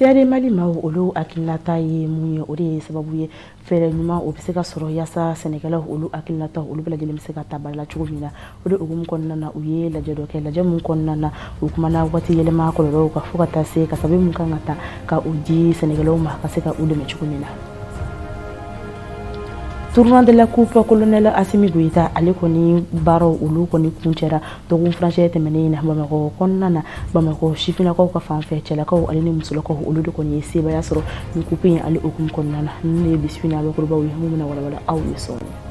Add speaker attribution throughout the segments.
Speaker 1: Seyade mali maaw olu hakilinata ye mun ye o de ye sababu ye fɛɛrɛ ɲuman o bɛ se ka sɔrɔ yaasa sɛnɛkɛlaw olu hakilinata olu bɛɛ lajɛlen bɛ se ka ta ba la cogo min na o de hukumu kɔnɔna na u ye lajɛ dɔ kɛ lajɛ min kɔnɔna na u kumana waati yɛlɛma kɔlɔlɔw kan fo ka taa se ka sababu min kan ka ta ka u di sɛnɛkɛlaw ma ka se ka u dɛmɛ cogo min na tournoi de la coupe kolonɛl asimi goyita ale kɔni baaraw olu kɔni kuncɛra dɔgɔkun furancɛ tɛmɛnen in na bamakɔ kɔnɔna na bamakɔ sifinnakaw ka fan fɛ cɛlakaw ale ni musolakaw olu de kɔni ye sebaaya sɔrɔ nin coupe in ale hukumu kɔnɔna na ninnu de ye bi su in na bakurubaw ye minnu bɛna walawala aw ye sɔɔni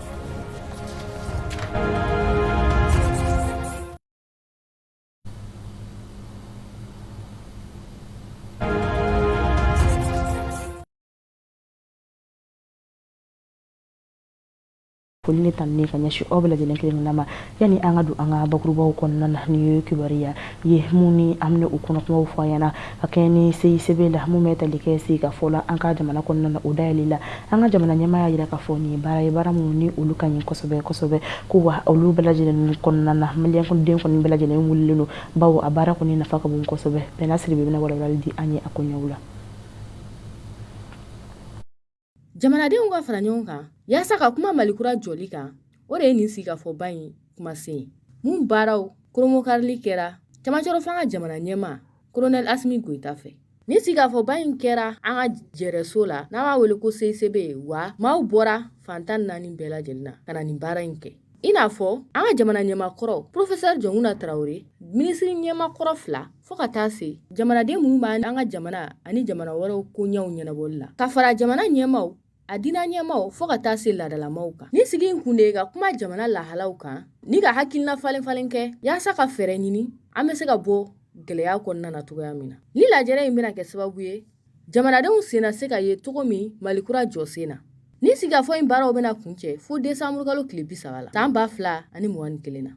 Speaker 1: foli ni tanuni ka ɲɛsin aw bɛɛ lajɛlen kelen na ma yanni an ka don an ka bakurubaw kɔnɔna na ni ye kibaruya ye mun ni an bɛ u kɔnɔkumaw fɔ an ɲɛna ka kɛ ni seisebe la mun bɛ tali kɛ sigi ka fɔ la an ka jamana kɔnɔna na o dayɛlɛ la an ka jamana ɲɛmaa y'a jira k'a fɔ nin ye baara ye baara minnu ni olu ka ɲi kosɛbɛ kosɛbɛ ko wa olu bɛɛ lajɛlen kɔnɔna na maliyɛn den kɔni bɛɛ lajɛlen wulilen don bawo a baara kɔni nafa ka bon kosɛbɛ bɛɛ n'a siri bɛ bɛna walawalali di an ye a koɲɛw la
Speaker 2: jamanadenw ka fara ɲɔgɔn kan yaasa ka kuma malikura jɔli kan o de ye nin sigikafɔba in kumasen ye mun baaraw koromokarili kɛra camancɛrɔ fanga jamana ɲɛmaa kolonɛl asimi goyita fɛ nin sigikafɔba in kɛra an ka jɛrɛso la n'an b'a wele ko seisebe wa maaw bɔra fan tan naani bɛɛ lajɛlen na ka na nin baara in kɛ i n'a fɔ an ka jamana ɲɛmakɔrɔ professeur jɔnkuna tarawele minisiri ɲɛmakɔrɔ fila fo ka taa se jamanaden minnu b'an ka jamana ani jamana wɛrɛw koɲɛw ɲɛnabɔli la ka fara jamana ɲɛmaw a diina ɲɛmaw fo ka taa se laadalamaw kan nin sigi in kun de ka kuma jamana lahalaw kan ni ka hakilina falen falen kɛ yaasa ka fɛɛrɛ ɲini an bɛ se ka bɔ gɛlɛya kɔnɔna na cogoya min na ni lajɛrɛ in bɛna kɛ sababu ye Jamanadenw sen na se ka ye cogo min malikura jɔ sen na ni sigikafɔ in baaraw bɛna kuncɛ fo desanburukalo tile bi saba la san ba fila ani mugan ni kelen na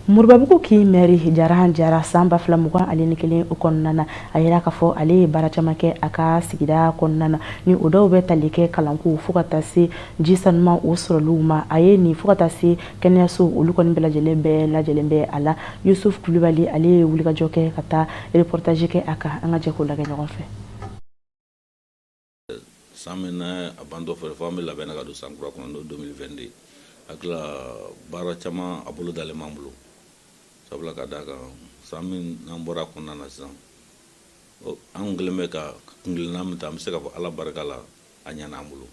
Speaker 1: moribabugu kin mɛri jarahan jara san ba fila mugan ale ni kelen o kɔnɔna na a yira k'a fɔ ale ye baara caman kɛ a ka sigida kɔnɔna na ni o dɔw bɛ tali kɛ kalanko fo ka taa se ji saniman o sɔrɔliw ma a ye nin fo ka taa se kɛnɛyaso olu kɔni bɛɛ lajɛlen bɛɛ lajɛlen bɛ a la yusuf kulubali ale ye wulikajɔ kɛ ka taa reportage kɛ a kan an ka jɛ k'o lajɛ ɲɔgɔn fɛ
Speaker 3: san min na a bantɔ fɛ fɔ an bɛ labɛn ka don san kura kɔnɔ n'o 2022 hakili la baara caman a bolo dalen b'an bolo sabula ka d'a kan san min n'an bɔra a kɔnɔna na sisan an kɛlen bɛ ka kungilenna min ta an bɛ se ka fɔ ala barika la a ɲana an bolo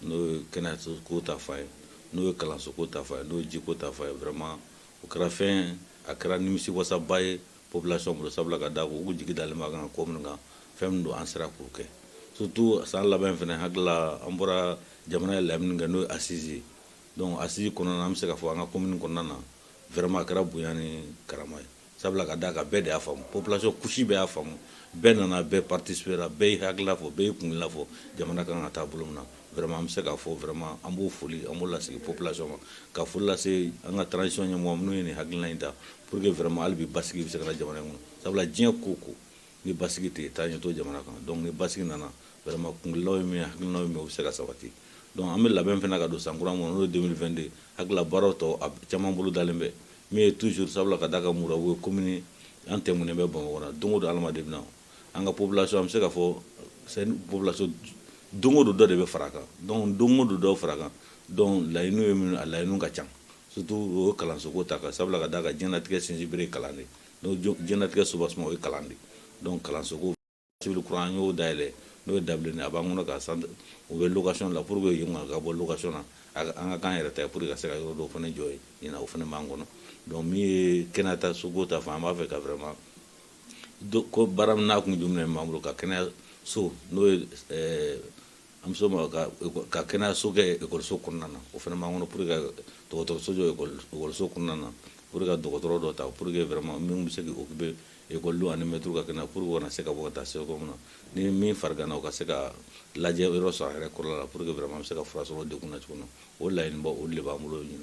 Speaker 3: n'o ye kɛnɛyaso ko ta fan ye n'o ye kalanso ko ta fan ye n'o ye jiko ta fan ye vraiment o kɛra fɛn a kɛra nimisiwasaba ye population bolo sabula ka d'a kan u jigi dalen b'a kan ko min kan fɛn min don an sera k'o kɛ surtout san laban fana hakilila an bɔra jamana ye laɲini kɛ n'o ye assise ye donc assise kɔnɔna na an bɛ se ka fɔ an ka commune kɔnɔna na vraiment a kɛra bonya ni karama ye sabula ka d'a kan bɛɛ de y'a faamu population couche bɛɛ y'a faamu bɛɛ nana bɛɛ participera bɛɛ y'i hakilila fɔ bɛɛ y'i kungilenna fɔ jamana kan ka taa bolo min na vraiment an bɛ se k'a fɔ vraiment an b'o foli an b'o lasigi population ma ka foli lase an ka transition ɲɛmɔgɔ minnu ye nin hakilina in ta Pour que vraiment hali bi basigi bɛ se ka na jamana in kɔnɔ sabula diɲɛ ko o ko ni basigi tɛ yen taa ɲɛ t'o jamana kan donc ni basigi nana vraiment kuntilennaw ye min ye hakilinaw ye min ye o bɛ se ka sabati donc an bɛ labɛn fana ka don san kura min kɔnɔ n'o ye 2022 hakili la baaraw tɔ a caman bolo dalen bɛ min ye toujours sabula ka d'a kan Murabu ye commune ye an tɛmɛnen bɛ Bamakɔ la don o don adamaden bɛ na an ka population an bɛ se ka fɔ c'est une population don o don dɔ de bɛ fara a kan donc don o don dɔ fara a kan donc laɲiniw ye minnu ye a laɲiniw ka ca surtout o ye kalansoko ta fan sabula ka d'a kan diɲɛlatigɛ sinsinbere kalan de donc diɲɛlatigɛ soubassement o ye kalan de donc kalansoko civil kura an y'o dayɛlɛ n'o ye dabilen a b'an kɔnɔ ka sant o bɛ location la pour que yen ka bɔ location na an ka k'an yɛrɛ ta ye pour que ka se ka yɔrɔ dɔw fana jɔ yen ɲina o fana b'an kɔnɔ donc min ye kɛnɛyasoko ta fan an b'a fɛ ka vraiment ko baara min n'a kun jumɛn b'an bolo ka kɛnɛya so n'o ye An bɛ s'o ma ka kɛnɛyaso kɛ ekɔliso kɔnɔna na o fana b'an kɔnɔ pour que ka dɔgɔtɔrɔso jɔ ekɔliso kɔnɔna na pour que ka dɔgɔtɔrɔ dɔ ta pour que vraiment min bɛ se k'i occuper école ani maître ka kɛnɛ pour que u kana se ka bɔ ka taa se yɔrɔ min na ni min fariganna u ka se ka lajɛ yɔrɔ sɔrɔ a yɛrɛ kɔrɔ la pour que vraiment bɛ se ka fura sɔrɔ denw na cogo min na o laɲiniba olu de b'an bolo ɲin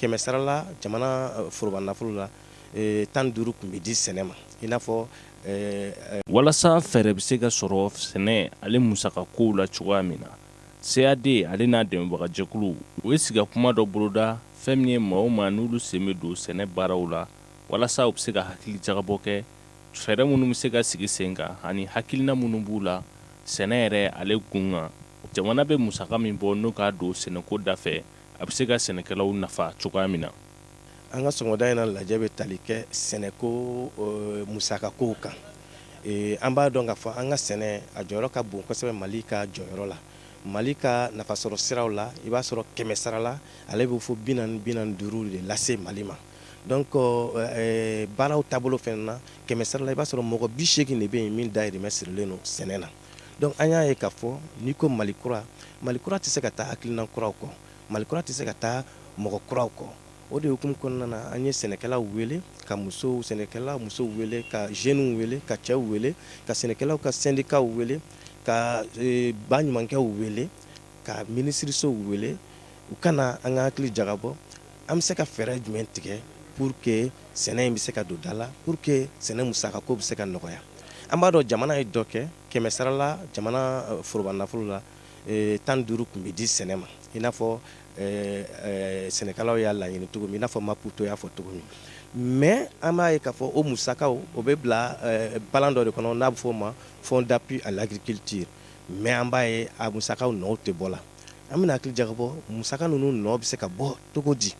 Speaker 4: Kɛmɛ sara la jamana foroba nafolo la tan ni duuru tun bɛ di sɛnɛ ma i n'a
Speaker 5: fɔ walasa fɛɛrɛ bɛ se ka sɔrɔ sɛnɛ ale musakakow la cogoya min na CAD ale n'a dɛmɛbagajɛkulu u ye sigikakuma dɔ boloda fɛn min ye maaw ma n'olu sen bɛ don sɛnɛ baaraw la walasa u bɛ se ka hakili jagabɔ kɛ fɛɛrɛ minnu bɛ se ka sigi sen kan ani hakilina minnu b'u la sɛnɛ yɛrɛ ale kun kan jamana bɛ musaka min bɔ n'o k'a don sɛnɛko da fɛ a bɛ se ka sɛnɛkɛlaw nafa cogoya min na an
Speaker 4: ka sɔgɔmada in na lajɛ bɛ tali kɛ sɛnɛko musakakow kan an b'a dɔn k'a fɔ an ka sɛnɛ a jɔyɔrɔ ka bon kosɛbɛ mali ka jɔyɔrɔ la mali ka nafasɔrɔ siraw la i b'a sɔrɔ kɛmɛ sarala ale bɛ fɔ bi naani bi naani ni duuru de lase mali ma donc baaraw taabolo fɛnɛ na kɛmɛ sarala i b'a sɔrɔ mɔgɔ bi seegin de bɛ yen min dahirimɛ sirilen don sɛnɛ na donc an y'a ye k'a fɔ n'i ko mali kura mali kura tɛ se ka taa hakilina kuraw kɔ mali kura tɛ se ka taa mɔgɔ kuraw kɔ o de hukumu kɔnɔna na an ye sɛnɛkɛlaw wele ka musow sɛnɛkɛla musow wele ka jeunes wele ka cɛw wele ka sɛnɛkɛlaw ka sendikaw wele ka e, baɲumankɛw wele ka minisirisow wele u ka na an ka hakili jagabɔ an bɛ se ka fɛɛrɛ jumɛn tigɛ pour que sɛnɛ in bɛ se ka don da la pour que sɛnɛ musaka ko bɛ se ka nɔgɔya an b'a dɔn jamana ye dɔ kɛ kɛmɛ sarala jamana euh, foroba nafolo la euh, tan ni duuru kun bɛ di sɛnɛ ma i n'a fɔ euh, sɛnɛkɛlaw y'a laɲini cogo min i n'a fɔ maputo y'a fɔ cogo min mais an b'a ye k'a fɔ o musakaw o bɛ bila balan dɔ de kɔnɔ n'a bɛ fɔ o ma fonds d'appui à l'agriculture mais an b'a ye a musaka nɔw tɛ bɔ la an bɛna hakili jagabɔ musaka ninnu nɔ bɛ se ka bɔ cogo di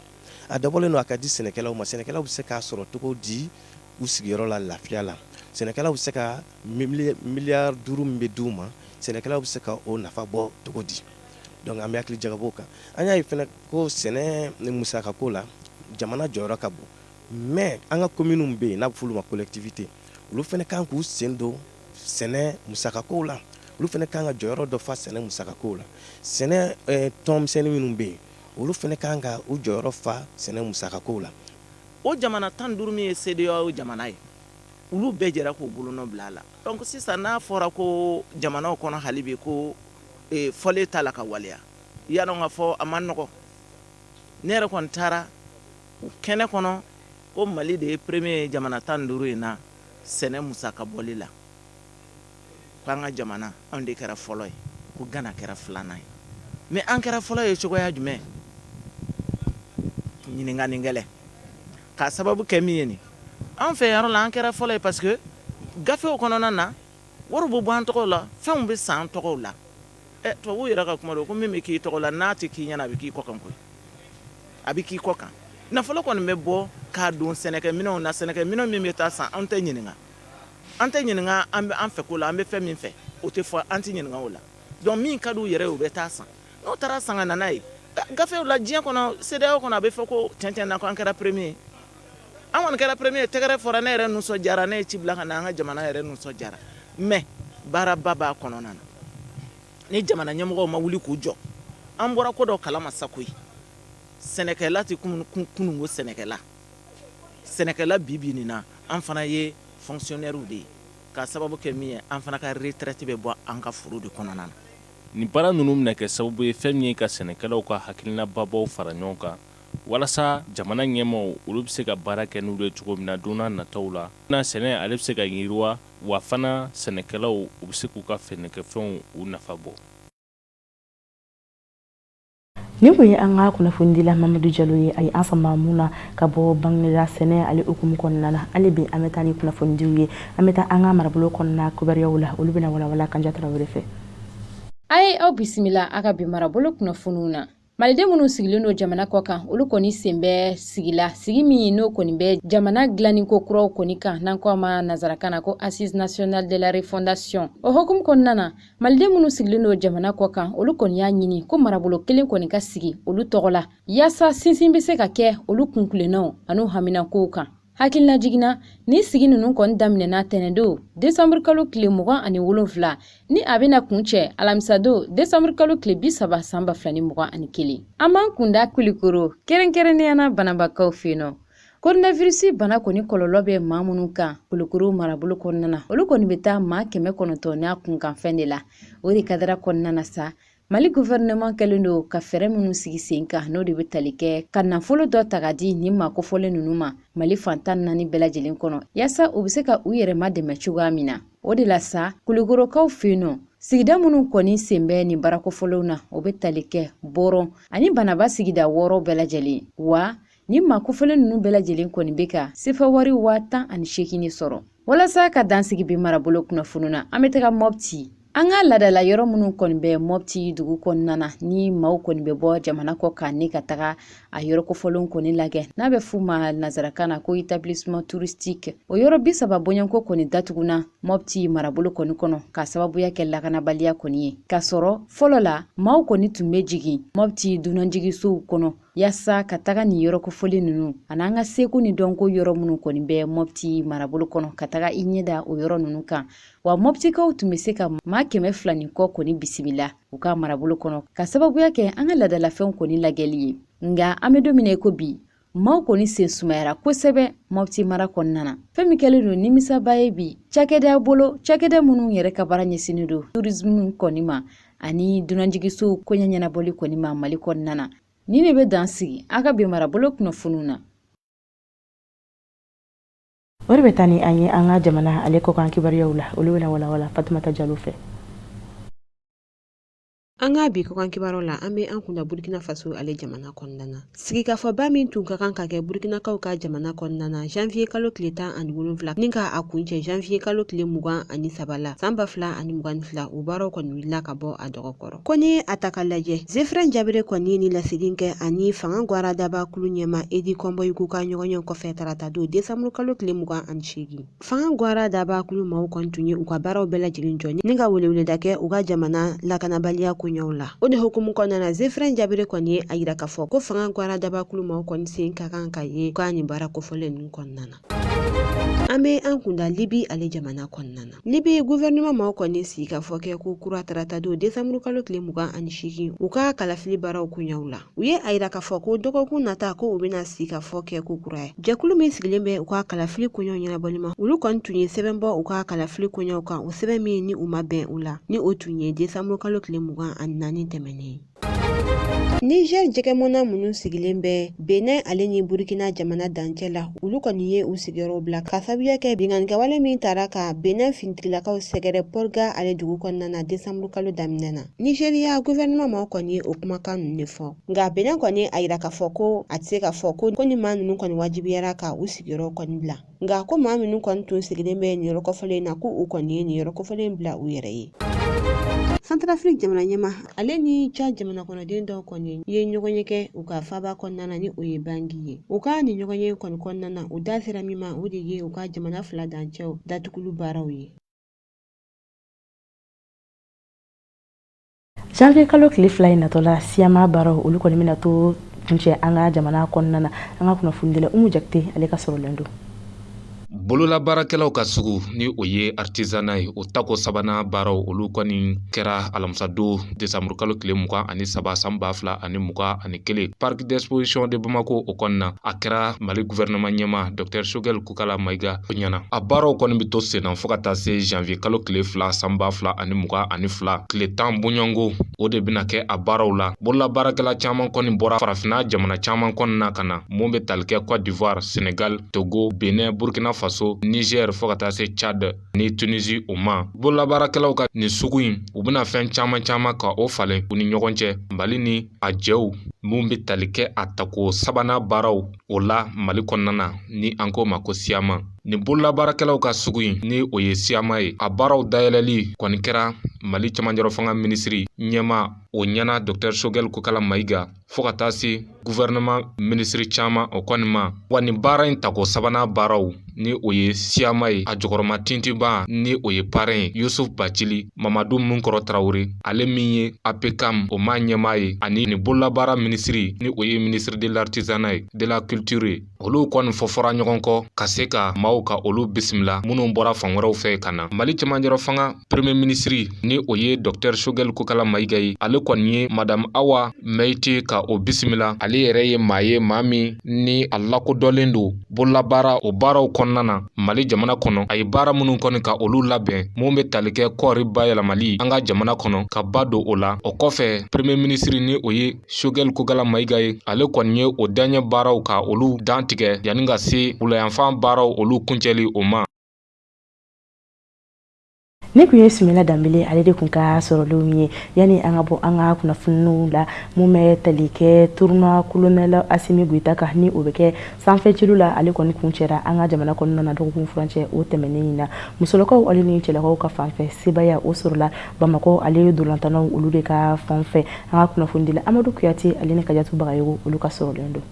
Speaker 4: a dabɔlen don a ka di sɛnɛkɛlaw ma sɛnɛkɛlaw bɛ se k'a sɔrɔ cogo di u sigiyɔrɔ la lafiya la sɛnɛkɛlaw bɛ se ka miliyari duuru min bɛ di' u ma sɛnɛkɛlaw bɛ se ka o nafa bɔ cogo di donc an bɛ hakili jagabɔ kan an y'a ye fɛnɛ ko sɛnɛ musaka ko la jamana jɔyɔrɔ ka bon mais an ka communes bɛ yen n'a bɛ f'olu ma collectivité olu fɛnɛ kan k'u sen don sɛnɛ musaka ko la olu fɛnɛ kan ka jɔyɔrɔ dɔ fa sɛnɛ musaka ko la sɛnɛ tɔnmisɛnnin minnu bɛ yen olu fɛnɛ kan ka u jɔyɔrɔ fa sɛnɛ musaka ko la o jamana
Speaker 6: tan duuru min ye CEDEAO jamana ye olu bɛɛ jɛra k'u bolonɔ bila a la donc sisan n'a fɔra ko jamana kɔnɔ hali bi ko fɔlen t'a la ka waleya i y'a dɔn k'a fɔ a man nɔgɔ ne yɛrɛ kɔni taara o kɛnɛ kɔnɔ ko mali de ye premier ye jamana tan duuru in na sɛnɛ musaka bɔli la ko an ka jamana anw de kɛra fɔlɔ ye ko gana kɛra filanan ye mais an kɛra fɔlɔ ye cogoya jumɛn ɲininkani gɛlɛn k'a sababu kɛ min ye nin an fɛ yɔrɔ la an kɛra fɔlɔ ye parce que gafew kɔnɔna na wari bɛ bɔ an tɔgɔw la fɛnw bɛ san an tɔgɔw la ɛ tubabuw yɛrɛ ka kuma don ko min bɛ k'i tɔgɔ la n'a tɛ k'i ɲɛna a bɛ k'i kɔ kan koyi a bɛ k'i kɔ kan nafolo kɔni bɛ bɔ k'a don sɛnɛkɛminɛnw na sɛnɛkɛminɛn min bɛ taa san an tɛ ɲininka an tɛ ɲininka an bɛ an fɛ ko la an bɛ fɛn min fɛ o tɛ fɔ an tɛ ɲininka o la donc min ka di u yɛrɛ ye o bɛ taa san n'o taara san ka na n'a ye gafew la diɲɛ kɔnɔ CEDEAO kɔnɔ a bɛ fɔ ko tiɲɛ-tiɲɛ na ko an kɛra premier ye an kɔni kɛra premier ye tɛgɛrɛ fɔra ne yɛrɛ nisɔndiyara ne ye ci bila ka na an ka jamana yɛrɛ nisɔndiyara mais baaraba b'a kɔnɔna na ni jamana ɲɛmɔgɔw ma wuli k'u jɔ an bɔra ko dɔ kalama sa koyi sɛnɛkɛla tɛ kununko sɛnɛkɛla sɛnɛkɛla bi bi nin na an fana ye fonctionnaires de ye k'a sababu kɛ min ye an fana ka retraite bɛ bɔ an ka foro de kɔnɔna na nin
Speaker 5: baara ninnu bɛna kɛ sababu ye fɛn min ye ka sɛnɛkɛlaw ka hakilina babaw fara ɲɔgɔn kan walasa jamana ɲɛmaaw olu bɛ se ka baara kɛ n'u ye cogo min na don nataw la sɛnɛ ale bɛ se ka yiriwa wa fana sɛnɛkɛlaw u bɛ se k'u ka sɛnɛkɛfɛnw u nafa bɔ
Speaker 1: nin tun ye an ka kunnafonidila mamadu jalo ye a ye an sama min na ka bɔ bangegla sɛnɛ ale hukumu kɔnɔna na hali bi an bɛ taa ni kunnafonidiw ye an bɛ taa an ka marabolo kɔnɔna kibaruyaw la olu bɛna walawala kanja tarawele fɛ a ye
Speaker 7: aw bisimila an ka bi marabolo kunnafoniw na maliden minnu sigilen don jamana kɔ kan olu kɔni sen bɛ sigi la sigi min ye n'o kɔni bɛ jamana dilanni ko kuraw kɔni kan n'an ko a ma nazarakan na ko assises nationales de la refondation o hukumu kɔnɔna na maliden minnu sigilen don jamana kɔ kan olu kɔni y'a ɲini ko marabolo kelen kɔni ka sigi olu tɔgɔ la yaasa sinsin bɛ se ka kɛ olu kuntilennanw an'u haminankow kan hakilinajigin na nin sigi ninnu kɔni daminɛna tɛnɛndon desanburu kalo tile mugan ani wolonfila ni a bɛna kuncɛ alamisadon desanburu kalo tile bi saba san ba fila ni mugan ani kelen an b'an kunda kulikoro kɛrɛnkɛrɛnnenya na banabakaw fɛ yen nɔ koronavirisi bana kɔni kɔlɔlɔ bɛ maa minnu kan kulikoro marabolo kɔnɔna na olu kɔni bɛ taa maa kɛmɛ kɔnɔntɔn n'a kunkanfɛn de la o de kadara kɔnɔna na sa Mali gouvernement kɛlen don ka fɛɛrɛ minnu sigi sen kan n'o de bɛ tali kɛ ka nafolo dɔ ta ka di nin maa kofɔlen ninnu ma Mali fan tan ni naani bɛɛ lajɛlen kɔnɔ yaasa u bɛ se ka u yɛrɛ madɛmɛ cogoya min na o de la sa kulikorokaw fɛ yen nɔ sigida minnu kɔni sen bɛ nin baara kofɔlenw na o bɛ tali kɛ bɔrɔn ani banaba sigida wɔɔrɔ bɛɛ lajɛlen wa Nin maa kofɔlen ninnu bɛɛ lajɛlen kɔni bɛ ka sefa wari waa tan ani seegin de sɔrɔ walasa ka dan sigi bi marabolo kunnafoniw na an bɛ taga mɔpti an ka laadala yɔrɔ minnu kɔni bɛ mɔpti dugu kɔnɔna na ni maaw kɔni bɛ bɔ jamana kɔ kan ne ka taga a yɔrɔ kofɔlenw kɔni lagɛ n'a bɛ f'u ma nazarakan na ko établissement touristique o yɔrɔ bi saba bɔɲɔgɔnko kɔni datuguna mɔpti marabolo kɔni kɔnɔ ka sababuya kɛ lakanabaliya kɔni ye k'a sɔrɔ fɔlɔ la maaw kɔni tun bɛ jigin mɔpti dunanjigisow kɔnɔ Yaasa ka taga nin yɔrɔ kofɔlen ninnu ani an ka seko ni dɔnko yɔrɔ minnu kɔni bɛ Mopti marabolo kɔnɔ ka taga i ɲɛ da o yɔrɔ ninnu kan wa Moptikaw tun bɛ se ka maa kɛmɛ fila ni kɔ kɔni bisimila u ka marabolo kɔnɔ ka sababuya kɛ an ka laadalafɛnw kɔni lagɛli ye nka an bɛ don min na i ko bi maaw kɔni sen sumayara kosɛbɛ mɔpti mara kɔnɔna na fɛn min kɛlen don nimisaba ye bi cakɛdaw bolo cakɛda minnu yɛrɛ ka baara ɲɛsinnen don tourisme kɔni ma ani dunanjigisow koɲɛ ɲɛnabɔli kɔni ma mali kɔnɔna na ni ne bɛ dan sigi an ka bi marabolo kunnafoniw na
Speaker 1: o de bɛ taa ni an ye an ka jamana ale kɔkan kibaruyaw la olu bɛna walawala fatumata jalo
Speaker 8: fɛ an ka bi kɔkan kibaru la an bɛ an kunda burkina faso ale jamana kɔnɔna na Sigikafɔba min tun ka kan ka kɛ Burukinakaw ka jamana kɔnɔna na janvier kalo tile tan ani wolonwula ni ka a kuncɛ janvier kalo tile mugan ani saba la san ba fila ani mugan ni fila o baaraw kɔni wulila ka bɔ a dɔgɔ kɔrɔ ko ni a ta ka lajɛ zefrɛn jabere kɔni ye nin laseli kɛ a ni fanga gwaradaba kulu ɲɛmaa edi kɔnbɔyigo ka ɲɔgɔnye kɔfɛ tarata don desanburu kalo tile mugan ani seegin Fanga gwara dabakulu maaw kɔni tun ye u ka baaraw bɛɛ lajɛlen jɔ ni ka weleweleda kɛ u ka jamana lakanabaliya koɲɛw la o de hukumu kɔnɔna na zefrɛn jabere kɔni ye a yira k'a fɔ ko fanga gwara dabakulu maaw kɔni sen ka kan ka ye k'a nin baara kofɔlen ninnu kɔnɔna na an bɛ an kunda libi ale jamana kɔnɔna na libi guvɛrɛnɛma maaw kɔni sigi ka fɔ kɛ ko kura taratadon desanburukalo tile mugan ani seegin u ka kalafili baaraw koɲɛw la u ye a yira k'a fɔ ko dɔgɔkun nata ko u bɛna sigi ka fɔ kɛ ko kura ye jɛkulu min sigilen bɛ u ka kalafili koɲɛw ɲɛnabɔli ma olu kɔni tun ye sɛbɛn bɔ u ka kalafili koɲɛw kan o sɛbɛn min ni u ma bɛn u la ni o tun ye desanburu kalo tile mugan ani naani tɛmɛnen Niger jɛgɛmɔnna minnu sigilen bɛ Benin ale ni Burkina jamana dancɛ la, olu kɔni ye u sigiyɔrɔw bila ka sababuya kɛ binkannikɛwale min taara ka Benin finitigilakaw sɛgɛrɛ Porga ale dugu kɔnɔna na desanburukalo daminɛ na. nizeriya guvɛrɛnɛman maaw kɔni ye o kumakan ninnu de fɔ nka benin kɔni a yira k'a fɔ ko a tɛ se k'a fɔ ko ko ni maa ninnu kɔni wajibiyara ka u sigiyɔrɔ kɔni bila nka ko maa minnu kɔni tun sigilen bɛ nin yɔrɔ kofɔlen in na ko u kɔni ye nin yɔrɔ kofɔlen bila u yɛrɛ ye santarafiri jamana ɲɛmaa ale ni tchad jamana kɔnɔden dɔw kɔni ye ɲɔgɔn ye kɛ u ka faaba kɔnɔna na ni o ye bangi ye u ka nin ɲɔgɔn ye kɔni kɔnɔna na u da sera min ma o de ye u ka jamana fila dancɛw datugulu baaraw ye
Speaker 1: janvier kalo tile fila in natɔ la siyama baaraw olu kɔni bɛna to kuncɛ an ka jamana kɔnɔna na an ka kunnafonidila umu jakite ale ka sɔrɔlen don bololabaarakɛlaw
Speaker 9: ka sugu ni o ye artisanat ye o tako sabanan baaraw olu kɔni kɛra alamisadon desanburukalo tile mugan ani saba san ba fila ani mugan ani kelen parc d'exposition de bamako o kɔnɔna a kɛra mali gouvernement ɲɛmaa docteur choguel Kokala Mayiga ɲɛna. A baaraw kɔni bɛ to senna fo ka taa se janvier kalo tile fila san ba fila ani mugan ani fila tile tan bɔɲɔnko o de bɛna kɛ a baaraw la. Bololabaarakɛla caman kɔni bɔra farafinna jamana caman kɔnɔna ka na mun bɛ tali kɛ Cote d'Ivoire, Senegal, Togo, Benin, Burkina Faso, Niger fo ka taa se Tchad ni Tunisie o ma. Bololabaarakɛlaw ka nin sugu in u bɛna fɛn caman caman ka o falen u ni ɲɔgɔn cɛ Mali ni a jɛw min bɛ tali kɛ a tako sabanan baaraw O la mali kɔnɔna na ni an k'o ma ko siyama nin bololabaarakɛlaw ka sugu in ni o ye siyama ye a baaraw dayɛlɛli kɔni kɛra mali cɛmanjɔrɔ fanga minisiri ɲɛmaa o ɲɛna dɔktɛr sogɛli kokala mayiga fo ka taa se guvɛrɛnaman minisiri caaman o kɔni ma wa nin baara in tako sabanan baaraw ni o ye siyama ye a jukɔrɔmatintinba ni o ye parɛn ye yusuf bacili mamadu minkɔrɔ tarawure ale min ye apekam o m'a ɲɛmaa ye ani ni bololabaara minisiri ni o ye ministre de l'artisanat et de la culture ye olu kɔni fɔfɔra ɲɔgɔn kɔ ka se ka maaw ka olu bisimila minnu bɔra fan wɛrɛw fɛ ka na mali cɛmanjɔrɔ fanga premier minisiri ni o ye dɔktɛr sogɛl kokala mayiga ye ale kɔni ye madamu awa mɛyite ka o bisimila ale yɛrɛ ye maa ye maa min ni a lakodɔnlen don bololabaara o baaraw kɔnɔna na mali jamana kɔnɔ a ye baara minnu kɔni ka olu labɛn minnu bɛ tali kɛ kɔɔri bayɛlɛmali an ka jamana kɔnɔ ka ba don o la o kɔfɛ premier minisiri ni o ye sogɛli kokala mayiga ye ale kɔni ye o daɲɛ baaraw ka olu dantigɛ yanni ka se wulayanfan baaraw olu kuncɛli o ma
Speaker 1: nin kun ye sumayila danbele ale de kun ka sɔrɔlenw ye yanni an ka bɔ an ka kunnafoniw la min bɛ tali kɛ tournoi kolonɛli asimi goyita kan ni o bɛ kɛ sanfɛcelu la ale kɔni kuncɛra an ka jamana kɔnɔna na dɔgɔkun furancɛ o tɛmɛnen in na musolakaw ale ni cɛlakaw ka fanfɛ sebaya o sɔrɔla bamakɔ ale ntolatannaw olu de ka fanfɛ an ka kunnafonidila amadu kuyate ale ni kajatu bagayogo olu ka sɔrɔlen don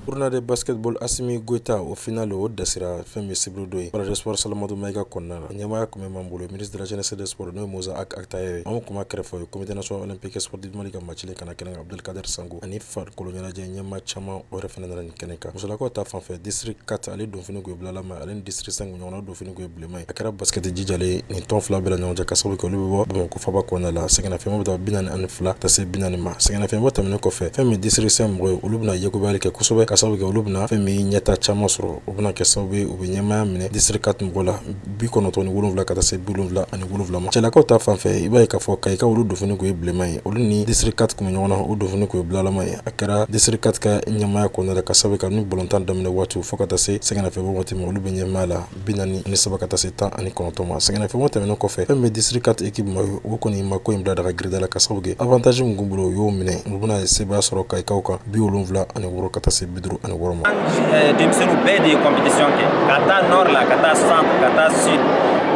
Speaker 1: Uruna de basketball
Speaker 10: asimi gyita o fana don o dɛsɛsira fɛn bɛ sibiri don yesɔrɔ salamatu ma i ka kɔnɔna na ɲɛmaya tun bɛ ma bolo mini dsedsɔrɔ n' ye muz a kata ye anw kuma kɛrɛfɛ ye cote sɔrɔ ni pekesɔrɔdirimani ka ma cɛ kana kɛnɛ abudkari sanku ani farikolokolo ɲɛnajɛ ɲɛma caman o yɛrɛ fana ni kɛnɛ ka musolakaw ta fanfɛ disiri ka taa ale donf golobilala ma ale disiri san ɲɔgɔn donf ye bila a kɛra baskɛti jijalen nin tɔn fila bɛɛ la ɲɔgɔn cɛ ka sababu kɛ olu bɛ bɔ bamakɔ faba kɔnɔna la sɛgɛnnafiɲɛbɔ bɛ taa bi naani ani fila ka taa se bi naani ma sɛgɛnnafiɲɛbɔ tɛmɛnen kɔfɛ fɛn min district cinq mɔgɔ ye olu bɛna yekubali kɛ kosɛbɛ ka sababu kɛ olu bɛna fɛn min ɲɛta caman sɔrɔ o bɛna kɛ sababu ye u bɛ ɲɛmaya minɛ district quatre mɔgɔ la bi kɔnɔntɔn ni wolonwula ka taa se bi wolonwula ani wolonwula ma cɛlakaw ta fan fɛ i b'a ye k'a fɔ kayika olu donfini kun ye bilenma ye olu ni district quatre kun bɛ ɲɔgɔn na olu donfini kun ye bulalama ye a kɛra district quatre ka ɲɛmaya kɔnɔna la ka sababu kɛ ni balontan daminɛ waati fo ka taa se sɛgɛnnafiɲɛbɔ waati ma olu bɛ ɲɛmaya la bi naani ni saba ka taa se tan ani kɔnɔntɔn ma sɛgɛnnafiɲɛbɔ tɛmɛnen kɔfɛ fɛn min district quatre équipe maa ye o kɔni ma ko in bila daga girida la ka sababu kɛ avantazi min kun b'u bolo o y'o minɛ u bɛna sebaya sɔrɔ kayikaw kan bi wolonwula ani wɔɔrɔ ka taa se bi duuru ani wɔɔrɔ ma eh, denmisɛnninw bɛɛ
Speaker 11: de ye compétition kɛ ka taa nord la ka taa centre ka taa sud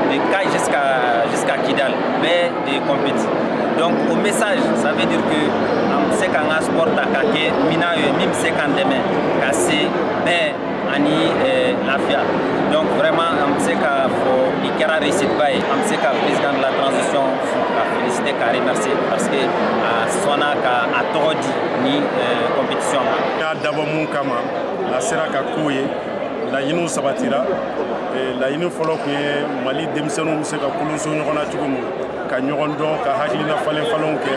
Speaker 11: de Kayes jusqu'à jusqu'à Kidal bɛɛ de ye compéti donc o message ça veut dire que an bɛ se k'an ka sport ta ka kɛ minan ye min bɛ se k'an dɛmɛ ka se bɛɛ ani lafiya donc vraiment an bɛ se k'a fɔ nin kɛra réussite ba ye an bɛ se ka président de la transition fo k'a féliciter k'a remercier parce que a sɔnna ka a tɔgɔ di nin compétition ma. n y'a dabɔ
Speaker 12: mun kama a sera ka kow ye laɲiniw sabatira laɲini fɔlɔ tun ye mali denmisɛnninw bɛ se ka kolonso ɲɔgɔn na cogo min ka ɲɔgɔn dɔn ka hakilina falenfalenw kɛ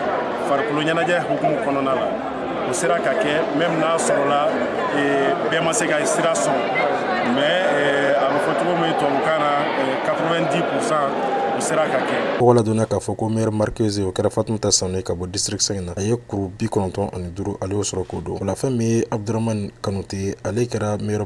Speaker 12: farikolo ɲɛnajɛ hukumu kɔnɔna la o sera ka kɛ même n'a sɔrɔla bɛɛ ma se ka sira sɔrɔ mais a bɛ fɔ cogo min tubabukan na 90 pourcent o sera ka kɛ tɔgɔ ladonna k'a fɔ
Speaker 10: ko meilleure marqueuse o kɛra fatumata sanu ye ka bɔ district 5 na a ye kuru bi kɔnɔntɔn ani duuru ale y'o sɔrɔ k'o don o la fɛn min ye abdurahman kanute ye ale kɛra meilleur